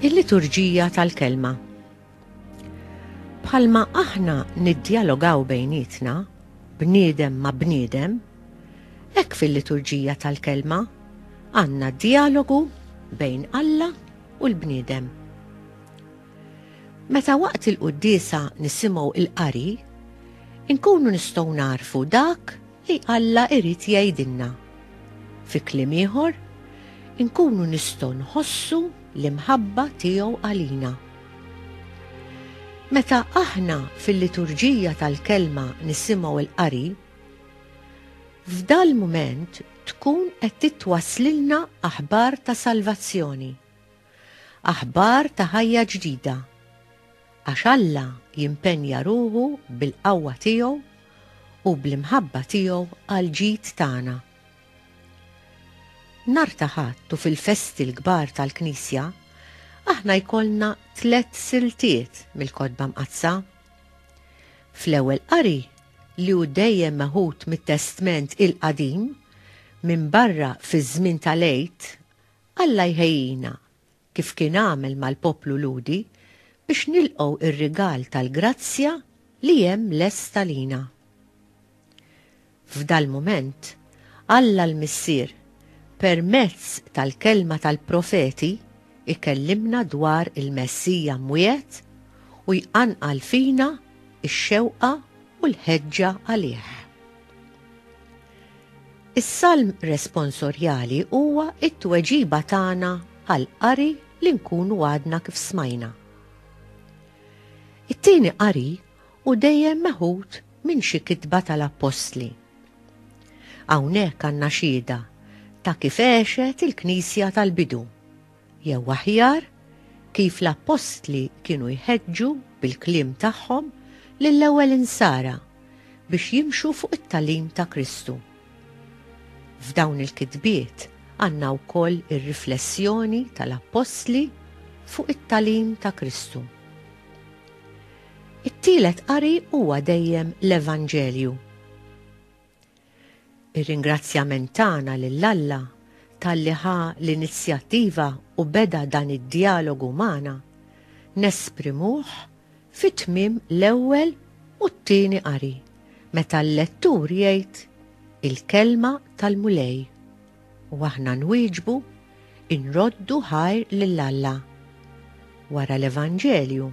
Il-liturġija tal-kelma. Bħalma aħna niddialogaw bejnietna, bniedem ma' bniedem, hekk fil-liturġija tal-kelma għandna dialogu bejn Alla u l-bniedem. Meta waqt il-quddiesa nisimgħu l-qari, inkunu nistgħu nagħrfu dak li Alla jrid jgħidilna. Fi kliem ieħor, inkunu nistgħu nħossu l-imħabba tiegħu għalina. Meta aħna fil-liturġija tal-kelma nisimgħu l-qari, f'dal-mument tkun qed titwasslilna aħbar ta' salvazzjoni. Aħbar ta' ħajja ġdida. Għax Alla jimpenja ruħu bil-qawwa tiegħu u bl-imħabba tiegħu għall-ġid tagħna. Nhar ta' Ħadd u fil-festi l-kbar tal-Knisja, aħna jkollna tliet siltiet mill-Kotba Mqaddsa. Fl-ewwel qari, li hu dejjem meħud mit-Testment il-Qadim, minbarra fiż-żmien tal-Għid, Alla jħejjina, kif kien għamel mal-poplu Lhudi, biex nilqgħu r-rigal tal-grazzja li hemm lest għalina. F'dal-mument, Alla l-Missier, permezz tal-kelma tal-profeti, ikellimna dwar il-Messija mwiegħed u jqanqal fina x-xewqa u l-ħeġġa għalih. Is-salm responsorjali huwa t-tweġiba tagħna għall-qari li nkunu għadna kif smajna. It-tieni qari hu dejjem meħud minn xi kitba tal-appostli. Hawnhekk għandna xhieda ta' kif għexet il-Knisja tal-bidu. Jew aħjar, kif l-appostli kienu jħeġġu bil-kliem tagħhom lill-ewwel insara biex jimxu fuq it-tagħlim ta' Kristu. F'dawn il-kitbiet għandna wkoll ir-riflessjoni tal-appostli fuq it-tagħlim ta' Kristu. It-tielet qari huwa dejjem l-Evanġelju. Ir-ringrazzjament tagħna lil Alla talli ħa l-inizjattiva u beda dan id-djalogu magħna, nesprimuh fi tmiem l-ewwel u t-tieni qari, meta l-lettur jgħid il-Kelma tal-Mulej, u aħna nwieġbu, inroddu ħajr lil Alla. Wara l-Evanġelju,